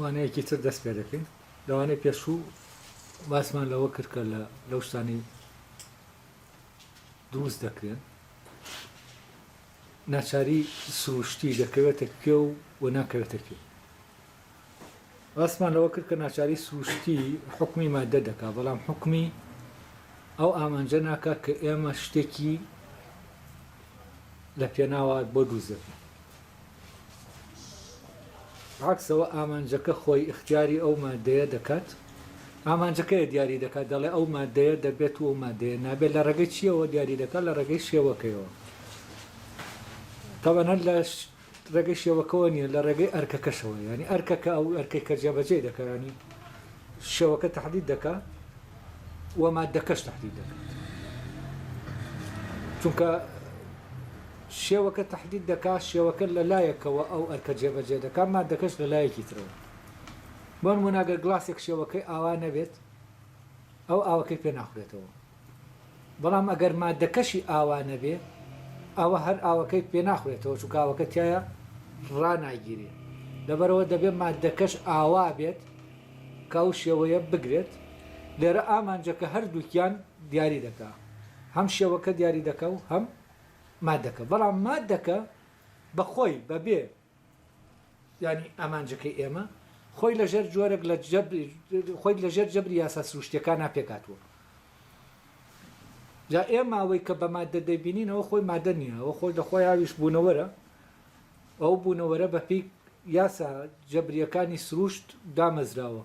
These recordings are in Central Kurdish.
وانەیەکی تر دەست پێ دەکەین لەوانەی پێشوو باسمان لەوە کرد کە لە لەو شتانی دروست دەکرێن ناچاری سروشتی دەکەوێتە کوێ و و ناکەوێتە کوێ باسمان لەوە کرد کە ناچاری سروشتی حکمی مادە دەکا بەڵام حکمی ئەو ئامانجە ناکە کە ئێمە شتێکی لە پێناوە بۆ دووزەکە عەکسەوە ئامانجەکە خۆی ئیختیاری ئەو ماددەیە دەکات ئامانجەکەیە دیاری دەکات دەڵێ ئەو ماددەیە دەبێت و ئەو ماددەیە نابێت لە ڕێگەی چییەوە دیاری دەکات لە ڕێگەی شێوەکەیەوە تەبەن هەر لە ڕێگەی شێوەکەەوە نییە لە ڕێگەی ئەرکەکەشەوە ینی ئەرکەکە ئەو ئەرکەی کە جێبەجێ دەکەیانی شێوەکە تەحدید دەکا و ماددەکەش تەحدید دەکات چونکە شێوەکە تەحدید دەکا شێوەکە لە لایەکەوە ئەو ئەرکە جێبەجێ دەکات مادەکەش لە لایەکی ترەوە بۆن مناگەر گلاسێک شێوەکەی ئاوا نەبێت ئەو ئاوەکەی پێ ناخورێتەوە بەڵام ئەگەر ماددەکەشی ئاوا نەبێ ئەوە هەر ئاوەکەی پێ ناخورێتەوە چونکە ئاوەکە تیایا ڕاناگیرێ لەبەرئەوە دەبێ ماددەکەش ئاوا بێت کە ئەو شێوەیە بگرێت لێرە ئامانجەکە هەردووکیان دیاری دەکا هەم شێوەکە دیاری دەکا و هەم ماددەکە بەڵام ماددەکە بەخۆی بەبێ یانی ئامانجەکەی ئێمە خۆی لە ژێر جۆرێک لە خۆی لە ژێر جەبری یاسا سروشتەکانە پێکاتوە جا ئێ ماوەی کە بە مادە دەبینینەوە خۆی مادە نییە ئەو خۆی لە خۆی هاویش بوونەوەرە ئەو بوونەوەرە بە پێی یاسا جەبریەکانی سروشت دامەزراوە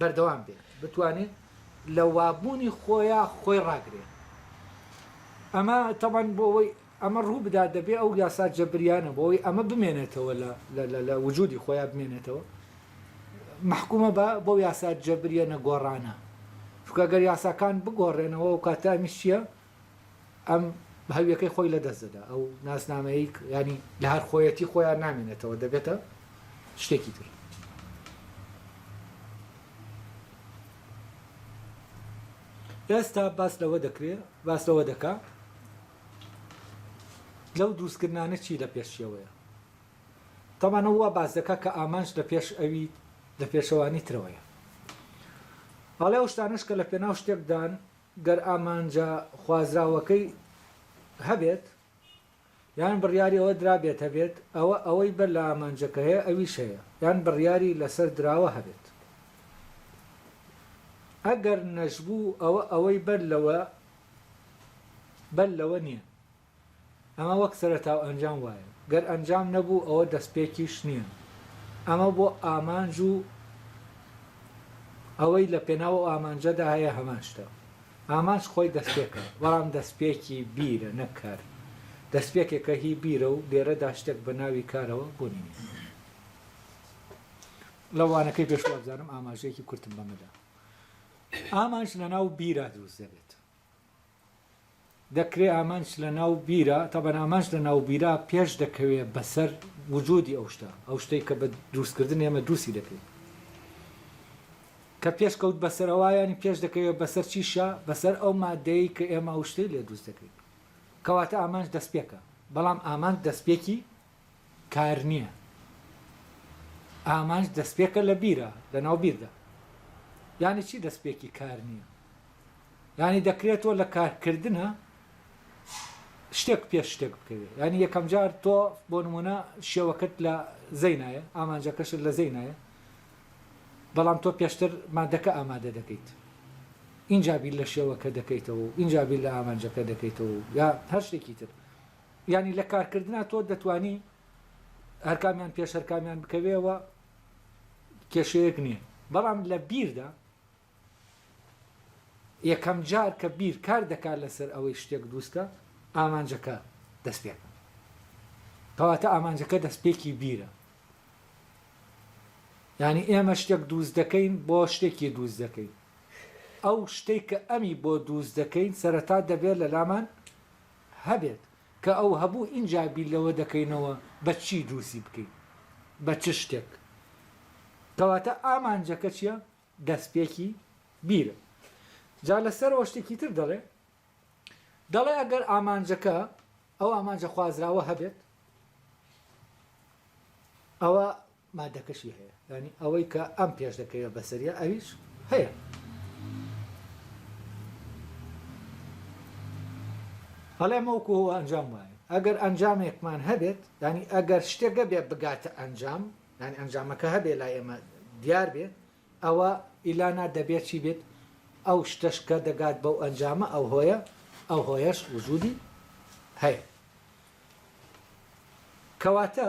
بەردەوام بێت بتوانێت لە وابوونی خۆیان خۆی ڕاگرێت ئەمە تەبەن بۆ ئەوەی ئەمە ڕوو بدات دەبێت ئەو یاسا جەبریانە بۆی ئەمە بمێنێتەوە لە وجودی خۆیان بمێنێتەوە محکومە بە بۆ یاسا جەبریە نەگۆڕانە چکە گەر یاساکان بگۆڕێنەوە و کاتامیش چییە ئەم هەویەکەی خۆی لەدەست دەدا، ئەو ناسنامەیەی یانی لە هەر خۆیەتی خۆیان نامێنێتەوە دەبێتە شتێکی تر. ئێستا باس لەوە دەکرێ باس لەوە دەکا لەو دروستکردنانە چی لە پێشیەوەیە تەمانە وا باس دەکا کە ئامانج لە پێش ئەوی لە پێشەوانی ترەوەیە ئاڵێ ئەو شتانش کە لە پێناو شتێکدان گەر ئامانجە خوازراوەکەی هەبێت یان بڕیاری ئەوە درابێت هەبێت، ئەوە ئەوەی بەر لە ئامانجەکە هەیە ئەویش هەیە یان بڕیاری لەسەر دراوە هەبێت. ئەگەر نەشبوو ئەوە ئەوەی بەر لەوە بەر لەوە نییە. ئەمە وەک سەرەتا و ئەنجام وایە، گەر ئەنجام نەبوو ئەوە دەستپێکیش نییە. ئەمە بۆ ئامانج و ئەوەی لە پێناو ئەو ئامانجەدا هەیە هەمان شتە. ئامانج خۆی دەستپێکە، بەڵام دەستپێکی بیرە نەک کار. دەستپێکێکە هی بیرە و لێرەدا شتێک بە ناوی کارەوە بوونی نییە. لە وانەکەی پێش وابزانم ئاماژەیەکی کورتم بەمەدا. ئامانج لە ناو بیرا دروست دەبێت. دەکرێ ئامانج لە ناو بیرا، تەبعەن ئامانج لە ناو بیرا پێش دەکەوێ بە سەر وجودی ئەو شتە، ئەو شتەی کە بە دروست کردن ئێمە دروستی دەکەین. کە پێش کەوت بە سەر ئەوا یانی پێش دەکەوێ بە سەر چیشا، بە سەر ئەو ماددەیەی کە ئێمە ئەو شتەی لێ دروست دەکەین. کەواتە ئامانج دەستپێکە. بەڵام ئامانج دەستپێکی کار نییە ئامانج دەستپێکە لە بیرە لەناو بیردا یانی چی دەستپێکی کار نییە یانی دەکرێت تۆ لە کارکردنە شتێک پێش شتێک بکەوێت ینی یەکەم جار تۆ بۆ نمونە شێوەکەت لە زەینایە ئامانجەکەشت لە زەینایە بەڵام تۆ پێشتر مادەکە ئامادە دەکەیت اینجا بیر لە شێوەکە دەکەیتەوە و اینجا بیر لە ئامانجەکە دەکەیتەوە یا هەر شتێکی تر یانی لە کارکردنا تۆ دەتوانی هەرکامیان پێش هەرکامیان بکەوێەوە کێشەیەک نییە بەڵام لە بیردا یەکەم جار کە بیر کار دەکات لەسەر ئەوەی شتێک دووستکە ئامانجەکە دەست پێکە کەواتە ئامانجەکە دەستپێکی بیرە ینی ئێمە شتێک دووست دەکەین بۆ شتێکی دووست دەکەین ئەو شتێک کە ئەمی بۆ دووست دەکەین سەرەتا دەبێت لە لامان هەبێت کە ئەو هەبوو ئینجا بیر لەوە دەکەینەوە بە چی دروستی بکەین بە چ شتێک کەواتە ئامانجەکە چیە دەستپێکی بیرە جا لەسەرەوە شتێکی تر دەڵێ دەڵێ ئەگەر ئامانجەکە ئەو ئامانجە خوازراوە هەبێت ئەوە مادەکەشی هەیە یانی ئەوەی کە ئەم پێش دەکەوێت بەسەریا ئەویش هەیە هەڵێ مەوکو هو ئەنجام وایە ئەگەر ئەنجامێکمان هەبێت ینی ئەگەر شتێکە بێ بگاتە ئەنجام ینی ئەنجامەکە هەبێ لای ئێمە دیار بێت ئەوە ئیلانا دەبێت چی بێت ئەو شتەش کە دەگات بەو ئەنجامە ئەو هۆیە ئەو هۆیەش وجودی هەیە کەواتە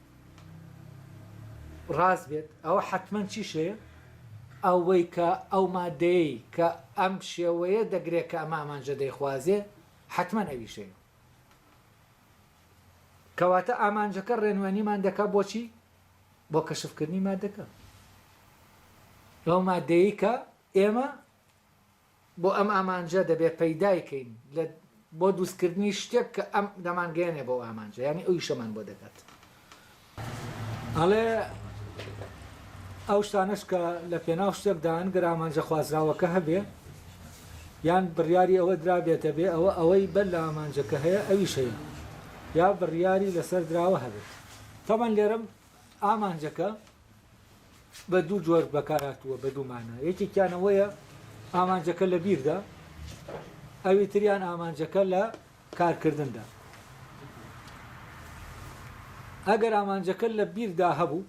ڕاست بێت ئەوە حەتمەن چی شێ؟ ئەوەی کە ئەو مادەیەی کە ئەم شێوەیە دەگرێ کە ئەمە ئامانجە دەیخوازێ حەتمەن ئەوی شێ. کەواتە ئامانجەکە ڕێنوێنیمان دەکا بۆچی؟ بۆ کەشفکردنی مادەکە. ئەو مادەیەی کە ئێمە بۆ ئەم ئامانجە دەبێ پەیدای کەین لە بۆ دوست کردنی شتێک کە ئەم دەمان گەیەنێ بەو ئامانجە یانی ئەویشەمان بۆ دەکات ئەڵێ ئەو شتانەش کە لە پێناو شتێکدان گەر ئامانجە خوازراوەکە هەبێ یان بڕیاری ئەوە درابێتە بێ ئەوە ئەوەی بەر لە ئامانجەکە هەیە ئەوی شەیە یا بڕیاری لەسەر دراوە هەبێت تەبەن لێرم ئامانجەکە بە دوو جۆر بەکارهاتووە بە دوو مانا یەکێکیان ئەوەیە ئامانجەکە لە بیردا ئەوی تریان ئامانجەکە لە کارکردندا ئەگەر ئامانجەکە لە بیردا هەبوو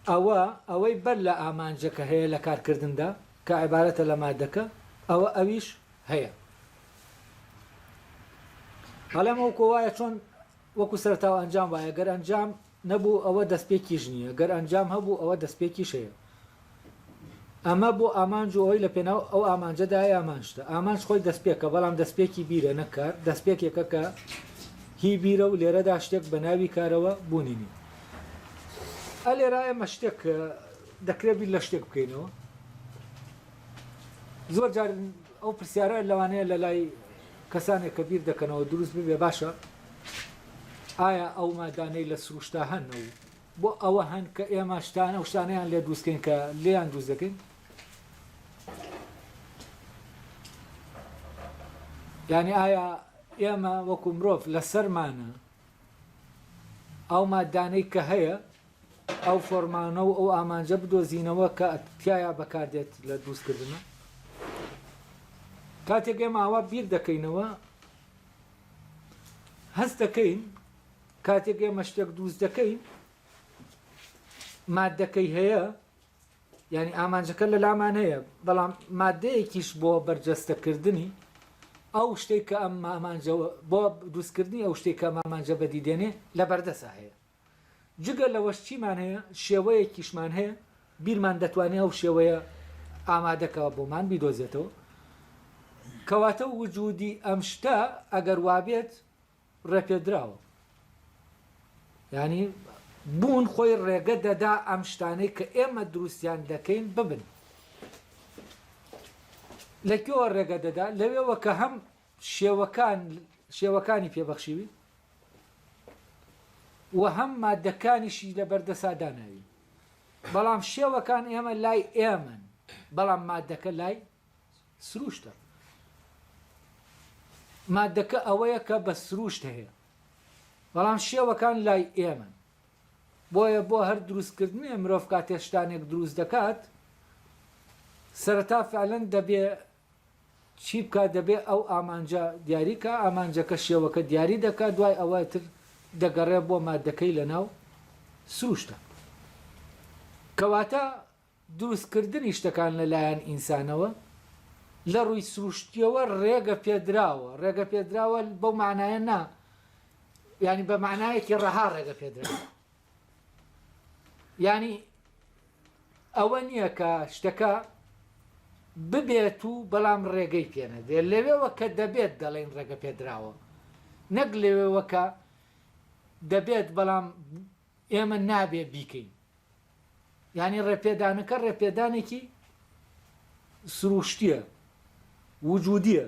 ئەوە ئەوەی بەر لە ئامانجەکە هەیە لە کارکردندا کە عیبارەتە لە مادەکە ئەوە ئەویش هەیە هەڵێمەوە کۆوایە چۆن وەکو سەرتاو ئەنجام وایە گەر ئەنجام نەبوو ئەوە دەستپێکیش نییە، گەر ئەنجام هەبوو ئەوە دەستپێکیش هەیە. ئەمە بۆ ئامانج و ئەوەی لە پێناو ئەو ئامانجەدایە هەمان شتە. ئامانج خۆی دەستپێکە، بەڵام دەستپێکی بیرە نەک کار، دەستپێکێکە کە هی بیرە و لێرەدا شتێک بە ناوی کارەوە بوونی نییە. ئا لێرە ئێمە شتێک دەکرێت بیر لە شتێک بکەینەوە. زۆر جار ئەو پرسیارە لەوانەیە لە لای کەسانێک کە بیر دەکەنەوە دروست ببێ باشە ئایا ئەو مادانەی لە سروشتا هەن و بۆ ئەوە هەن کە ئێمە شتانە و شتانیان لێ دروستکەین کە لێیان دروست دەکەین یعنی ئایا ئێمە وەکو مرۆڤ لەسەرمانە ئەو مادانەی کە هەیە ئەو فۆرمانە و ئەو ئامانجە بدۆزینەوە کە تیایا بەکار دێت لە دروستکردنە کاتێک ئێمە ئاوا بیر دەکەینەوە هەست دەکەین کاتێک ئێمە شتێک دروست دەکەین مادەکەی هەیە ینی ئامانجەکە لە لامان هەیە بەڵام مادەیەکیش بۆ بەرجەستەکردنی ئەو شتێک کە ئەم مامانجەوە بۆ دروستکردنی ئەو شتێک کە مامانجە بەدیدێنێ لە بەردەسا هەیە جگە لەوەش چیمان هەیە شێوەیەکیشمان هەیە بیرمان دەتوانێ ئەو شێوەیە ئامادەکەوە بۆمان بیدۆزێتەوە کەواتە وجودی ئەم شتە ئەگەر وابێت ڕێپێدراوە ینی بوون خۆی ڕێگە دەدا ئەم شتانەی کە ئێمە دروستیان دەکەین ببن لەکوێوە ڕێگە دەدا لەوێوە کە هەم شێوەکان شێوەکانی پێ بەخشیوین و هەم مادەکانیشی لە بەردەسا داناوین بەڵام شێوەکان ئێمە لای ئێمەن بەڵام مادەکە لای سروشتە مادەکە ئەوەیە کە بە سروشت هەیە بەڵام شێوەکان لای ئێمەن بۆیە بۆ هەر دروستکردنێ مرۆڤ کاتێشتانێک دروست دەکات سەرەتا فعلەن دەبێ چی بکات دەبێت ئەو ئامانجە دیاری کا ئامانجەکە شێوەکە دیاری دەکات دوای ئەوە تر دەگەڕێ بۆ ماددەکەی لەناو سروشتە کەواتە دروست کردنی شتەکان لە لایەن ئینسانەوە لە ڕووی سروشتیەوە ڕێگە پێدراوە ڕێگە پێدراوە بەو معناە نا ینی بە معناەکی ڕەها ڕێگە پێدراوە ینی ئەوە نییە کە شتەکە ببێت و بەڵام ڕێگەی پێ نەدرێت. لەوێوە کە دەبێت دەڵێین ڕێگە پێدراوە. نەک لەوێوە کە دەبێت بەڵام ئێمە نابێ بیکەین. یانی ڕێپێدانەکە ڕێپێدانێکی سرووشتییە، وجودییە.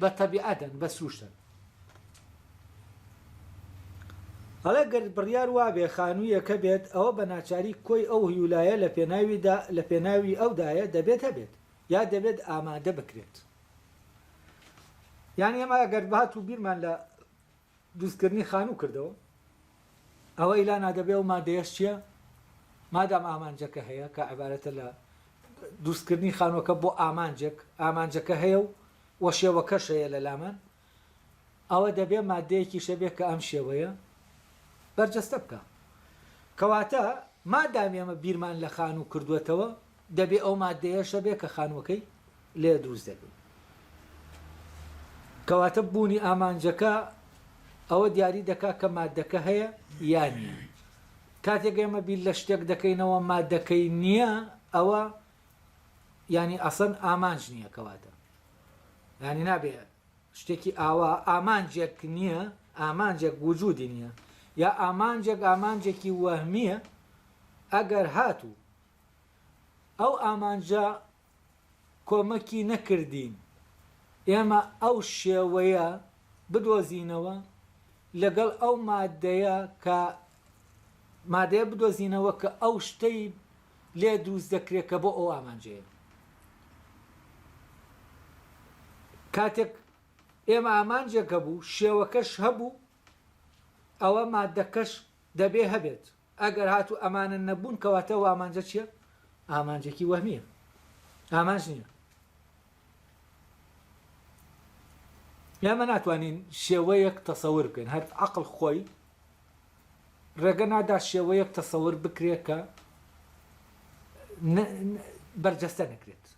بە تەبیعەتن بە سوشتن. ئەڵێ گەر بڕیار وابێ خانوویەکە بێت ئەوە بە ناچاری کۆی ئەو هیولایە لە پێناویدا لە پێناوی ئەودایە دەبێت هەبێت یا دەبێت ئامادە بکرێت یانی ئێمە گەر بهاتوو بیرمان لە دروستکردنی خانوو کردەوە ئەوە ئیلا نادەبێ ئەو مادەیەش چیە مادام ئامانجەکە هەیە کە عبارەتە لە دروستکردنی خانوەکە بۆ ئامانجێک ئامانجەکە هەیە و وە شێوەکەش هەیە لە لامان ئەوە دەبێ مادەیەکی شەبێ کە ئەم شێوەیە بەرجەستە بکە کەواتە مادام ئێمە بیرمان لە خانوو کردوێتەوە دەبێ ئەو ماددەیەش هەبێ کە خانووەکەی لێ دروست دەبێ. کەواتە بوونی ئامانجەکە ئەوە دیاری دەکا کە ماددەکە هەیە یا نییە. کاتێک ئێمە بیر لە شتێک دەکەینەوە ماددەکەی نییە ئەوە یانی ئەسەن ئامانج نییە کەواتە. یانی نابێ شتێکی ئاوا ئامانجێک نییە ئامانجێک وجودی نییە یا ئامانجێک ئامانجێکی وەهمیە ئەگەر هاتوو ئەو ئامانجە کۆمەکی نەکردین ئێمە ئەو شێوەیە بدۆزینەوە لەگەڵ ئەو مادەیە کە مادەیە بدۆزینەوە کە ئەو شتەی لێ دروست دەکرێت کە بۆ ئەو ئامانجەیە کاتێک ئێمە ئامانجێک هەبوو شێوەکەش هەبوو ئەوە مادەکەش دەبێ هەبێت ئەگەر هاتوو ئەمانە نەبوون کەواتە ئەو ئامانجە چیە؟ ئامانجێکی وەهمیە ئامانج نیە ئێمە ناتوانین شێوەیەک تەسەور بکەین هەر عقل خۆی ڕێگە نادا شێوەیەک تەسەور بکرێت کە بەرجەستە نەکرێت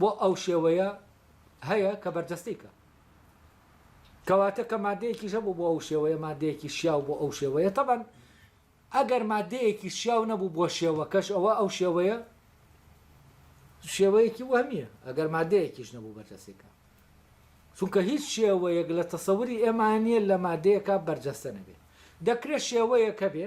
بۆ ئەو شێوەیە هەیە کە بەرجەستەی کە. کەواتە کە مادەیەکیش هەبوو بۆ ئەو شێوەیە مادەیەکی شیاو بۆ ئەو شێوەیە تەبەن ئەگەر مادەیەکی شیاو نەبوو بۆ شێوەکەش ئەوە ئەو شێوەیە شێوەیەکی وەهمیە ئەگەر مادەیەکیش نەبوو بەرجەستەی کە. چونکە هیچ شێوەیەک لە تەسەوری ئێمانە نیە لە مادەیەکە بەرجەستە نەبێ دەکرێت شێوەیەکە بێ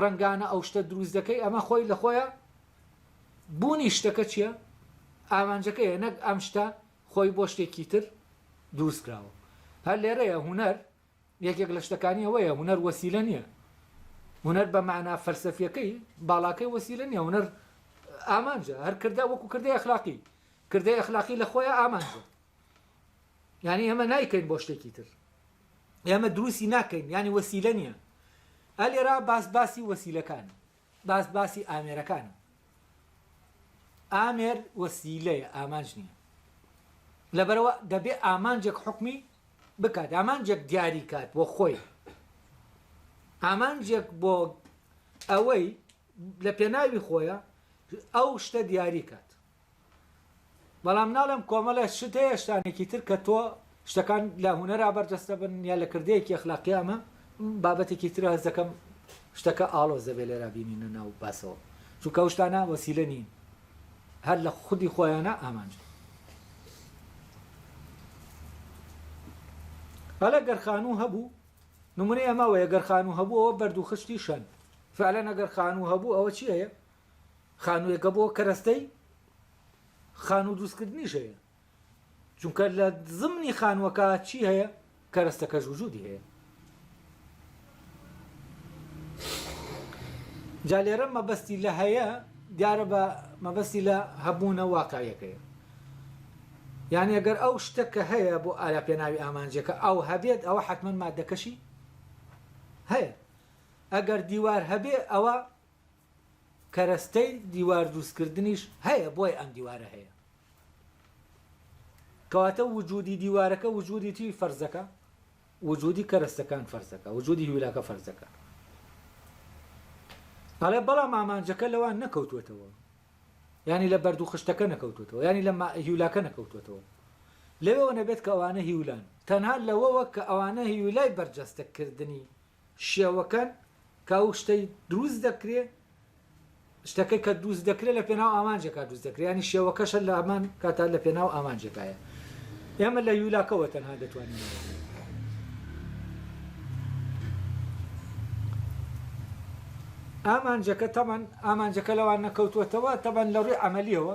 ڕەنگانە ئەو شتە دروست دەکەی ئەمە خۆی لە خۆیا بوونی شتەکە چیە ئامانجەکەیە نەک ئەم شتە خۆی بۆ شتێکی تر دروست کراوە هەر لێرەیە هونەر یەکێک لە شتەکانی ئەوەیە هونەر وەسیلە نییە هونەر بە معنا فەلسەفیەکەی باڵاکەی وەسیلە نییە هونەر ئامانجە هەر کردە وەکو کردەی ئەخلاقی کردەی ئەخلاقی لە خۆیان ئامانجە یانی ئێمە نایکەین بۆ شتێکی تر ئێمە دروستی ناکەین ینی وەسیلە نییە ئەلێرا باس باسی وەسیلەکان باس باسی ئامێرەکان ئامێر وەسیلەیە ئامانج نییە لەبەرەوە دەبێ ئامانجێک حکمی بکات ئامانجێک دیاری کات بۆ خۆی ئامانجێک بۆ ئەوەی لە پێناوی خۆیە ئەو شتە دیاری کات بەڵام ناڵێم کۆمەڵێ شت هەیە شتانێکی تر کە تۆ شتەکان لە هونەرا بەرجەستە بن یا لە کردەیەکی ئەخلاقیا ئەمە بابەتێکی ترە هەست دەکەم شتەکە ئاڵۆز دەبێت لێرا بینینە ناو باسەوە چونکە ئەو شتانە وەسیلە نین هەر لە خودی خۆیانە ئامانج هەڵە گەرخانوو هەبوو نمونەی ئەماوەیە گەرخانوو هەبوو ئەوە بەردوو خشتی شەن فعلەن ئەگەر خانوو هەبوو ئەوە چی هەیە خانوویەکە بۆ کەرەستەی خانوو دروستکردنیش هەیە چونکە لە زمنی خانووەکە چی هەیە کەرەستەکە ژوجودی هەیە جا لێرە مەبەستی لە هەیە دیارە بە مەبەستی لە هەبوونە واقعیەکەی یعنی ئەگەر ئەو شتە کە هەیە بۆ ئارا پێناوی ئامانجەکە ئەو هەبێت ئەوە حتمما مادەکەشی هەیە ئەگەر دیوار هەبێ ئەوە کەرەستەی دیوار دروست کردنیش هەیە بۆیە ئەم دیوارە هەیە کەواتە وجودی دیوارەکە وجودی چی فەرزەکە وجودی کەرەستەکان فەرزەکە وجودی هیولاکە فەرزەکە ئەڵێ بەڵام ئامانجەکە لەوان نەکەوتوێتەوە ینی لە بەردوو خشتەکە نەکەوتوێتەوە ینی لە هیولاکە نەکەوتوێتەوە لەوەوە نەبێت کە ئەوانە هیولان تەنها لەوەوە کە ئەوانە هیولای بەرجەستەکردنی شێوەکەن کە ئەو شتەی دروست دەکرێ، شتەکەی کە دروست دەکرێ لە پێناو ئامانجێکا دروست دەکرێ، یانی شێوەکەشە لە هەمان کاتا لە پێناو ئامانجێکایە. ئێمە لە یولاکەوە تەنها دەتوانین ئەوە بڵێین. ئامانجەکە تەبەن ئامانجەکە لەوان نەکەوتووەتەوە، تەبەن لە ڕووی عەمەلییەوە،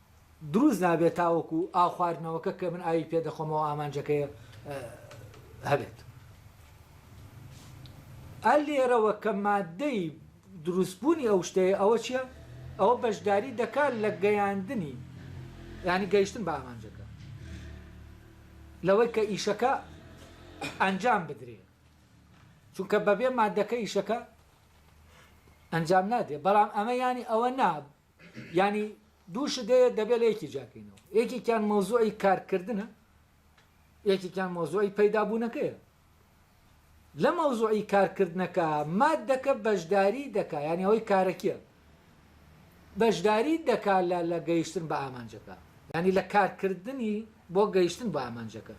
دروست نابێت تاوەکو ئاو خواردنەوەکە کە من ئاوی پێ دەخۆمەوە ئامانجەکەی هەبێت. ئەر لێرەوە کە ماددەی دروست بوونی ئەو شتەیە ئەوە چیە؟ ئەوە بەشداری دەکات لە گەیاندنی یانی گەیشتن بە ئامانجەکە لەوەی کە ئیشەکە ئەنجام بدرێ چونکە بەبێ مادەکە ئیشەکە ئەنجام نادێ بەڵام ئەمە ینی ئەوە نا یانی دوو شت هەیە دەبێت لە یەکی جیاکەینەوە یەکێکیان مەوزوعی کارکردنە یەکێکیان مەوزوعی پەیدابوونەکەیە لە مەوزوعی کارکردنەکە مادەکە بەشداری دەکا یانی ئەوەی کارەکیە بەشداری دەکا لە لە گەیشتن بە ئامانجەکە ینی لە کارکردنی بۆ گەیشتن بە ئامانجەکە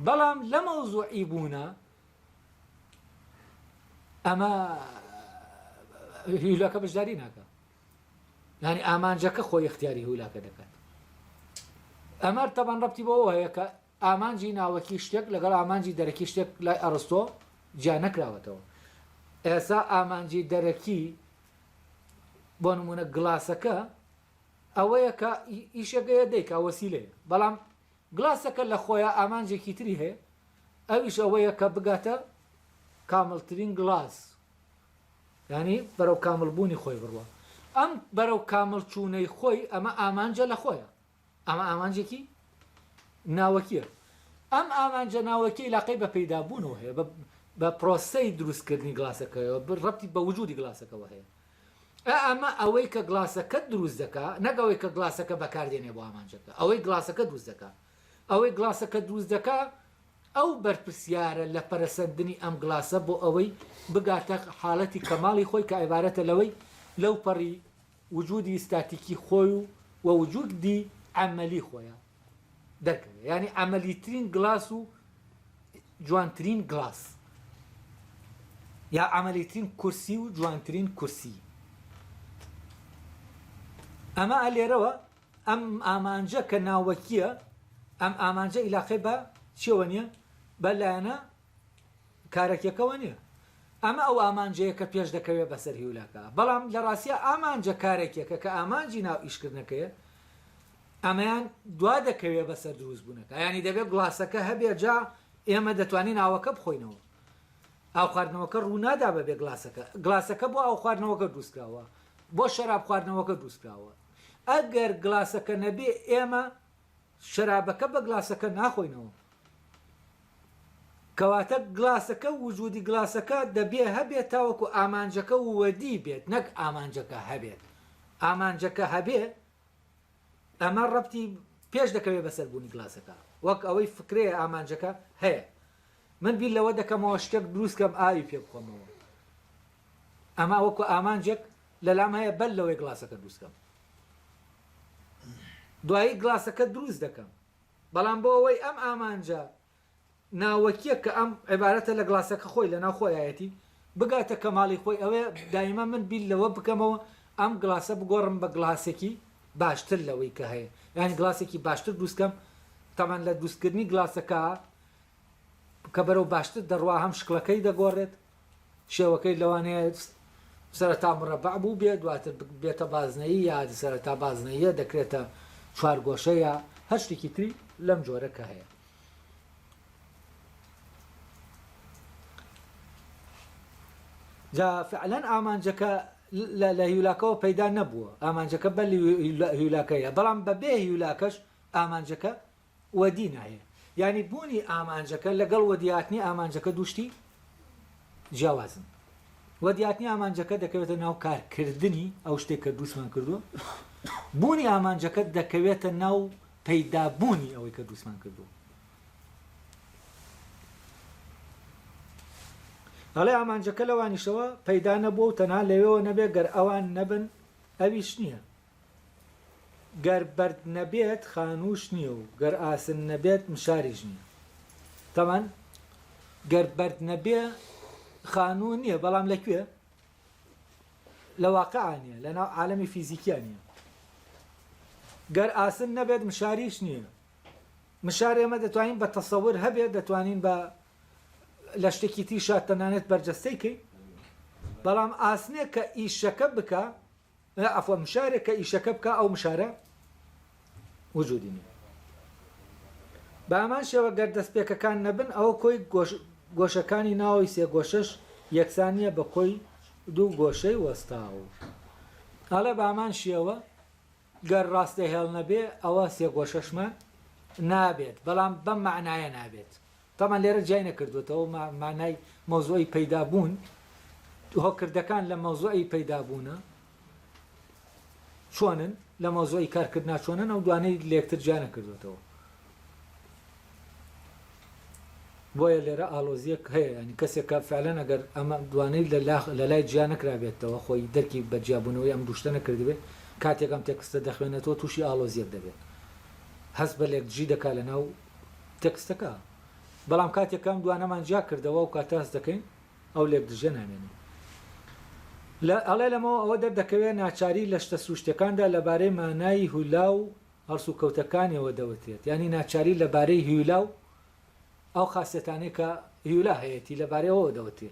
بەڵام لە مەوزوعی بوونە ئەمە هیلەکە بەشداری ناکە یانی ئامانجەکە خۆی اختیاری هولاکە دەکات ئەمەر تەبەن ڕەتی بۆ هەیە کە ئامانجی ناوەکی شتێک لەگەڵ ئامانجی دەرەکی شتێک لای ئەڕستۆ جیا نەکراوەتەوە ئێسا ئامانجی دەرەکی بۆ نمونە گلاسەکە ئەوەیە کە ئیشەکەیە دەیکا وەسیلەیە بەڵام گلاسەکە لە خۆیا ئامانجێکی تری هەیە ئەویش ئەوەیە کە بگاتە کامڵترین گلاس یانی بەرەو کامڵ بوونی خۆی بڕوا ئەم بەرەو کامڵ چوونەی خۆی ئەمە ئامانجە لە خۆیە ئەمە ئامانجێکی ناوەکیە ئەم ئامانجە ناوەکی لاقەی بە پەیدابوونەوە هەیە بە پرۆسەی دروستکردنی گلاسەکەەوە ڕەتی بە وجودی گلاسەکەەوە هەیە ئا ئەمە ئەوەی کە گڵاسەکەت دروست دەکا نەک ئەوەی کە گڵاسەکە بەکار دێنێ بۆ ئامانجەکە ئەوەی گڵاسەکە دروست دەکا ئەوەی گڵاسەکە دروست دەکا ئەو بەرپرسیارە لە پەرەسەندنی ئەم گڵاسە بۆ ئەوەی بگاتە حالەتی کەماڵی خۆی کە عیبارەتە لەوەی لەوپەڕی وجودی ئیستاتیکی خۆی و وە وجودی عەمەلی خۆیە. دەرکەوێ یانی عەمەلیترین گڵاس و جوانترین گڵاس یا عەمەلیترین کورسی و جوانترین کورسی ئەمە لێرەوە ئەم ئامانجە کە ناوەکیە ئەم ئامانجە ئیلاقی بە چیەوە نیە بە لایەنە کارەکیەکەەوە نیە ئەمە ئەو ئامانجەیە کە پێش دەکەوێت بەسەر هیولاکە بەڵام لە ڕاستە ئامانجە کارێکێکە کە ئامانجی ناو ئیشکردنەکەیە ئەمەیان دوا دەکەوێ بەسەر دروست بونەکە یانی دەبێ گڵاسەکە هەبێ جا ئێمە دەتوانین ئاوەکە بخۆینەوە ئاو خواردنەوەکە ڕوونادا بەبێ گلاسەکە گلاسەکە بۆ ئاو خواردنەوەکە دروستکراوە بۆ شەراب خواردنەوەکە دروستکراوە ئەگەر گلاسەکە نەبێ ئێمە شەرابەکە بە گلاسەکە ناخۆینەوە کەواتە گلاسەکە وجودی گلاسەکە دەبێ هەبێت تاوەکو ئامانجەکە وەدی بێت نەک ئامانجەکە هەبێت ئامانجەکە هەبێ ئەمە ڕەبتی پێش دەکەوێت بەسەر بوونی گلاسەکە وەک ئەوەی فکرەیە ئامانجەکە هەیە من بیر لەوە دەکەمەوە شتێک دروستکەم ئاوی پێ بخۆمەوە ئەما وەکو ئامانجێک لەلام هەیە بەل لەوەی گلاسەکە دروستکەم دوایی گلاسەکە دروست دەکەم بەڵام بۆ ئەوەی ئەم ئامانجە ناوەکیەک کە ئەم عیبارەتە لە گڵاسەکە خۆی لەناو خۆیایەتی بگاتە کەماڵی خۆی ئەوەیە دایمە من بیر لەوە بکەمەوە ئەم گڵاسە بگۆڕم بە گڵاسێکی باشتر لەوەی کە هەیە یانی گڵاسێکی باشتر دروستکەم تەمان لە دروستکردنی گڵاسەکە کە بەرەو باشتر دەڕوا هەم شکڵەکەی دەگۆڕێت شێوەکەی لەوانەیە سەرەتا مرەبع بووبێ دواتر ببێتە بازنەیی یا سەرەتا بازنەییە دەکرێتە چوارگۆشە یا هەر شتێکی تری لەم جۆرە کە هەیە جا فعلەن ئامانجەکە لە هیولاکەوە پەیدا نەبووە ئامانجەکە بە هیولاکەیە بەڵام بەبێ هیولاکەش ئامانجەکە وەدی نایە یانی بوونی ئامانجەکە لەگەڵ وەدیهاتنی ئامانجەکە دوو شتی جیاوازن وەدیهاتنی ئامانجەکە دەکەوێتە ناو کارکردنی ئەو شتێک کە دروستمان کردووە بوونی ئامانجەکە دەکەوێتە ناو پەیدابوونی ئەوەی کە دروستمان کردووە ئەڵێ ئامانجەکە لەوانیشەوە پەیدا نەبووە و تەنها لەوێەوە نەبێت گەر ئەوان نەبن ئەویش نییە گەر بەرد نەبێت خانووش نییە و گەر ئاسن نەبێت مشاریش نییە. تەمان گەر بەرد نەبێ خانوو نییە، بەڵام لە کوێ؟ لە واقعا نییە، لە ناو عالەمی فیزیکیا نییە. گەر ئاسن نەبێت مشاریش نییە. مشار ئێمە دەتوانین بە تەسەور هەبێت دەتوانین بە لە شتێکی تیشا تەنانەت بەرجەستەی کەین بەڵام ئاسنێک کە ئیشەکە بکە ئە عەفوەن مشارێک کە ئیشەکە بکا ئەو مشارە وجودی نیە بە هەمان شێوە گەر دەستپێکەکان نەبن ئەوە کۆی گۆش گۆشەکانی ناوەوەی سێگۆشەش یەکسان نیە بە کۆی دوو گۆشەی وەستاو ئەڵێ بە هەمان شێوە گەر ڕاستە هێڵ نەبێ ئەوە سێگۆشەشمان نابێت بەڵام بەم مەعنایە نابێت تابان لێرە جیای نەکردووەتەوە مانای مەوزوعی پەیدا بوون هۆکردەکان لە مەوزوعی پەیدا بوونە چۆنن لە مەوزوعی کارکردنا چۆنن ئەو دوانەی لێکتر جیا نەکردوێتەوە بۆیە لێرە ئالۆزیەک هەیە ینی کەسێک کە فعلەن ئەگەر ئەمە دوانەی لە لای جیا نەکرابێتەوە خۆی دەرکی بە جیابوونەوەی ئەم دوشتە نەکردبێت کاتێکم تێکستە دەخوێنێتەوە تووشی ئالۆزیەک دەبێت هەست بە لێک جی دەکا لە ناو تێکستەکە، بەڵام کاتێک کە ئەم دوانەمان جیا کردەوە ئەو کاتە هەست دەکەین ئەو لێکدژیە نامێنێ. لە ئەڵێ لەمەوە ئەوە دەردەکەوێ ناچاری لە شتە سروشتیەکاندا لە بارەی مانای هولا و هەڵسوکەوتەکانیەوە دەوترێت، یانی ناچاری لە بارەی هیولا و ئەو خاسیەتانەی کە هیولا هەیەتی لە بارەی ئەوەوە دەوترێ.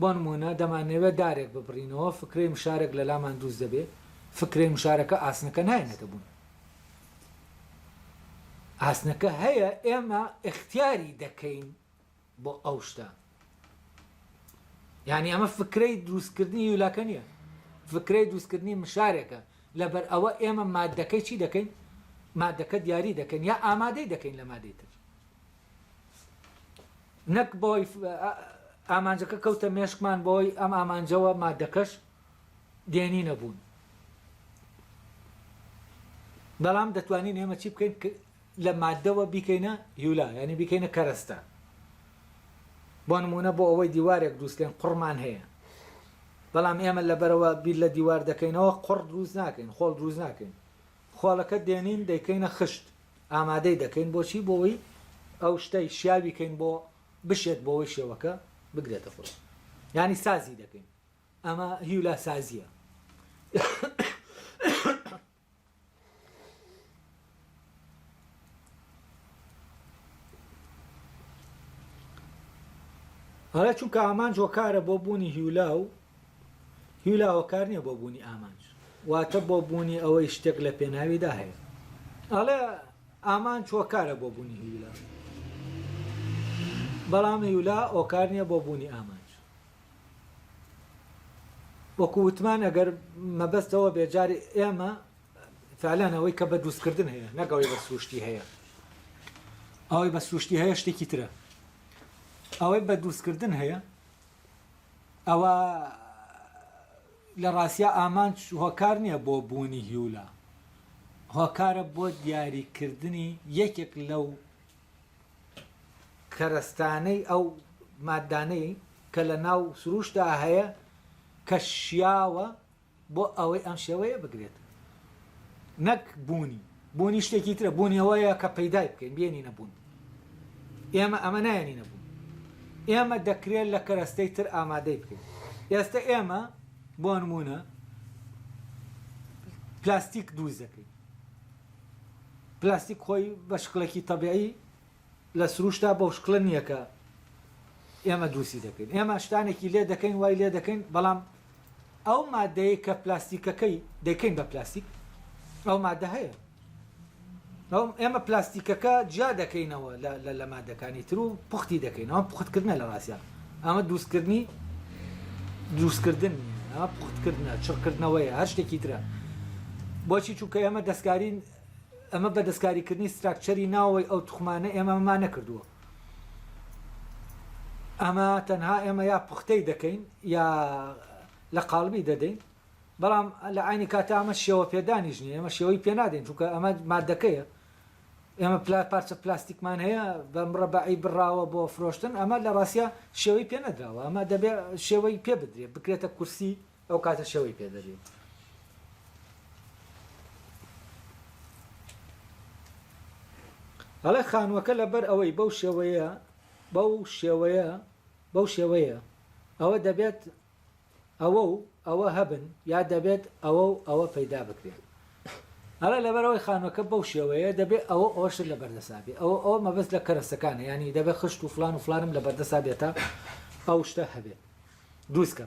بۆ نموونە دەمانەوێت دارێک ببڕینەوە، فکرەی مشارەک لەلامان دروست دەبێت، فکرەی مشارەکە ئاسنەکە ناهێنێتە بوون. ئاسنەکە هەیە ئێمە ئیختیاری دەکەین بۆ ئەو شتە. یانی ئەمە فکرەی دروستکردنی یولاکە نییە، فکرەی دروستکردنی مشارێکە، لەبەر ئەوە ئێمە ماددەکەی چی دەکەین؟ ماددەکە دیاری دەکەین یا ئامادەی دەکەین لە مادەی تر. نەک بەوەی ئامانجەکە کەوتە مێشکمان بەوەی ئەم ئامانجەوە مادەکەش دێنینە بوون بەڵام دەتوانین ئێمە چی بکەین لە مادەوە بیکەینە هیولا ینی بیکەینە کەرەستە بۆ نمونە بۆ ئەوەی دیوارێک دروستکەین قڕمان هەیە بەڵام ئێمە لەبەرەوە بیر لە دیوار دەکەینەوە قڕ دروست ناکەین خۆڵ دروست ناکەین خۆڵەکە دێنین دەیکەینە خشت ئامادەی دەکەین بۆچی بۆوەی ئەو شتەی شیاوی کەین بۆ بشێت بۆوەی شێوەکە بگرێتە خۆی ینی سازی دەکەین ئەمە هیولا سازیە هەڵێ چونکە ئامانج هۆکارە بۆ بوونی هیولا و هیو لا هۆکار نیە بۆ بوونی ئامانج واتە بۆ بوونی ئەوەی شتێک لە پێناویدا هەیە ئەڵێ ئامانج هۆکارە بۆ بوونی هیو لا بەڵام هیو لا هۆکار نیە بۆ بوونی ئامانج وەکو وتمان ئەگەر مەبەستەوە بێ جاری ئێمە فعلانەوەی کە بە دروستکردن هەیە نەگەڵی بە سروشتی هەیە ئەوەی بە سروشتی هەیە شتێکی ترە ئەوەی بە دروستکردن هەیە ئەوە لە ڕاستیا ئامانج هۆکار نییە بۆ بوونی هیولا، هۆکارە بۆ دیاریکردنی یەکێک لەو کەرەستانەی ئەو ماددانەی کە لە ناو سرووشتدا هەیە کە شیاوە، بۆ ئەوەی ئەم شێوەیە بگرێت نەک بوونی بوونی شتێکی ترە بوونی ئەوەیە کە پەیدای بکەین بێنینە بوون ئێمە ئەمە نایەنینە بوون ئێمە دەکرێت لە کەرەستەی تر ئامادەی بکەین ئێستا ئێمە بۆ نمونە پلاستیک دروست دەکەین پلاستیک خۆی بە شکڵێکی تەبیعی لە سروشتا بەو شکڵە نییە کە ئێمە دروستی دەکەین، ئێمە شتانێکی لێ دەکەین وای لێ دەکەین، بەڵام ئەو ماددەیەی کە پلاستیکەکەی دەیکەین بە پلاستیک ئەو ماددە هەیە. ئێمە پلاستیکەکە جیا دەکەینەوە لە مادەکانی تر و پوختی دەکەین ئەوە پختکردنە لە ڕاستە ئەمە دوستکردنی دروستکردن پختکردە چڕکردنەوەی هەر شتێکی ترە بۆچی چووکە ئێمە دەستکارین ئەمە بە دەستکاریکردنی ستراکچەری ناوەوەی ئەو توخمانە ئێمە ئەمەمان نەکردووە. ئەمە تەنها ئێمە یا پوختەی دەکەین یا لە قاڵبی دەدەین، بەڵام لە عەینی کاتدا ئەمە شێوە پێدانیش نییە، ئێمە شێوەی پێ نادەین، چونکە ئەمە ماددەکەیە. ئێمە پلا پارچە پلاستیکمان هەیە بە مرەبەعی بڕاوە بۆ فرۆشتن، ئەمە لە ڕاستیا شێوەی پێ نەدراوە، ئەمە دەبێت شێوەی پێ بدرێت، بکرێتە کورسی، ئەو کاتە شەوی پێ دەبێ. ئەڵێ خانووەکە لەبەر ئەوەی بەو شێوەیە بەو شێوەیە بەو شێوەیە ئەوە دەبێت ئەوە و ئەوە هەبن یا دەبێت ئەوە و ئەوە پەیدا بکرێن ئەڵێ لەبەرەوەی خانوەکە بەو شێوەیە دەبێت ئەوە ئەوش لە بەردەسابێ ئەوە ئەوە مەبەست لە کەرەسەکانە ینی دەبێت خشت و فلان و فلانم لە بەردەسا بێتە ئەو شتە هەبێت دووسکە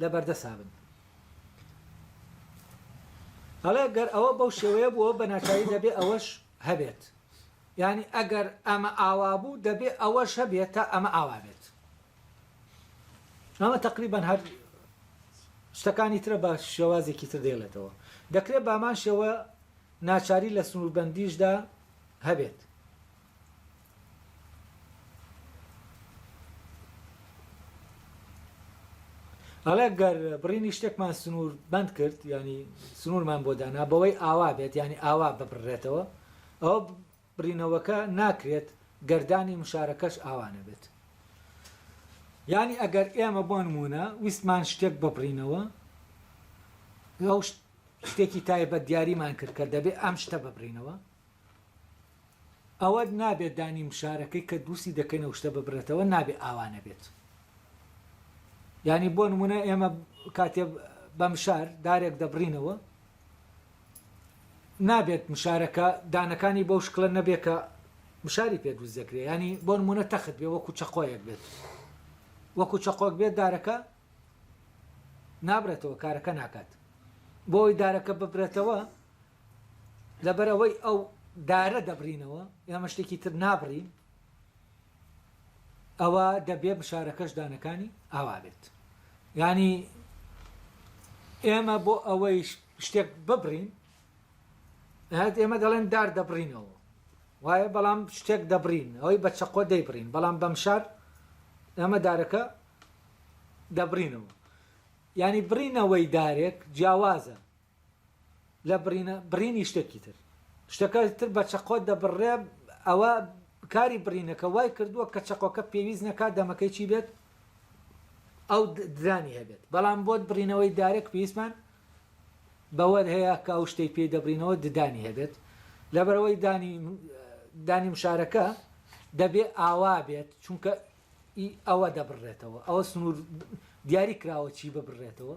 لە بەردەسا بن. ئەڵێ گەر ئەوە بەو شێوەیە بووە بە ناچاری دەبێ ئەوەش هەبێت. یانی ئەگەر ئەمە ئاوا بوو دەبێ ئەوەش هەبێت تا ئەمە ئاوا بێت. ئەمە تەقریبەن هەر شتەکانی ترە بە شێوازێکی تر دێڵێتەوە. دەکرێت بامان شێوە ناچاری لە سنووربەندیشدا هەبێت. ئەڵێ گەر بڕینی شتێکمان سنوور بند کرد ینی سنوورمان بۆ دانا بەوەی ئاوا بێت ینی ئاوا ببڕێتەوە ئەوە بڕینەوەکە ناکرێت گەردانی مشارەکەش ئاوانە بێت ینی ئەگەر ئێمە بۆ نمونە ویستمان شتێک ببڕینەوە لەو شتێکی تایبەت دیاریمان کرد کە دەبێت ئەم شتە ببڕینەوە ئەوەت نابێت دانی مشارەکەی کە دروستی دەکەینەوە شتە ببرێتەوە نابێت ئاوا نەبێت یانی بۆ نمونە ئێمە کاتێ بە مشار دارێک دەبڕینەوە نابێت مشارەکە دانەکانی بەو شکلە نەبێت کە مشاری پێ دروست دەکرێت ینی بۆ نمونە تەخت بێ وەکو چەقۆیەک بێت وەکو چەقۆک بێت دارەکە نابرێتەوە کارەکە ناکات بۆی دارەکە ببرێتەوە لەبەرئەوەی ئەو دارە دەبڕینەوە ئێمە شتێکی تر نابڕین ئەوە دەبێ مشارەکەش دانەکانی ئاوا بێت یانی ئێمە بۆ ئەوەی شتێک ببڕین هەت ئێمە دەڵێن دار دەبڕینەوە وایە بەڵام شتێک دەبڕین ئەوەی بە چەقۆ دەیبڕین بەڵام بەم شار ئێمە دارەکە دەبڕینەوە ینی بڕینەوەی دارێک جیاوازە لە بڕینە بڕینی شتێکی تر شتەکە تر بە چەقۆ دەبڕرێ ئەوە کاری بڕینەکە وای کردووە کە چەقۆکە پێویست نەکات دەمەکەی چی بێت ئەو درانی هەبێت بەڵام بۆت بڕینەوەی دارێک پێویستمان بەوەر هەیە کە ئەو شتەی پێی دەبرینەوە ددانی هەبێت لەبەرەوەی دانی دانی مشارەکە دەبێ ئاوا بێت چونکە ئەوە دەبڕێتەوە ئەوە سنوور دیاری کراوە چی ببڕێتەوە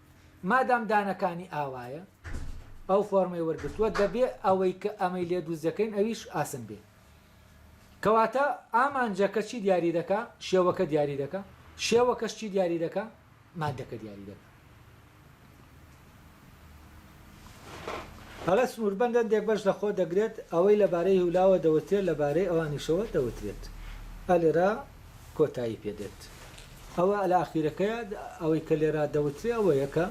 مادام دانەکانی ئاوایە ئەو فۆرمەی وەرگرتووە دەبێ ئەوەی کە ئەمەی لێ دروست دەکەین ئەویش ئاسن بێ کەواتە ئامانجەکە چی دیاری دەکا شێوەکە دیاری دەکا شێوەکەش چی دیاری دەکا مادەکە دیاری دەکا ئەڵێ سنووربەند هەندێک بەش لە خۆ دەگرێت، ئەوەی لە بارەی هیولاوە دەوترێت لە بارەی ئەوانیشەوە دەوترێت. ئە لێرە کۆتایی پێ دێت. ئەوە لە ئاخیرەکەیە، ئەوەی کە لێرە دەوترێ ئەوەیە کە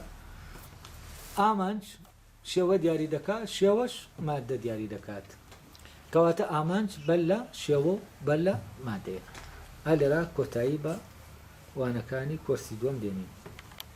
ئامانج شێوە دیاری دەکا، شێوەش ماددە دیاری دەکات. کەواتە ئامانج بەر لە شێوە و بەر لە ماددەیە. ئە لێرە کۆتایی بە وانەکانی کۆرسی دووەم دێنین.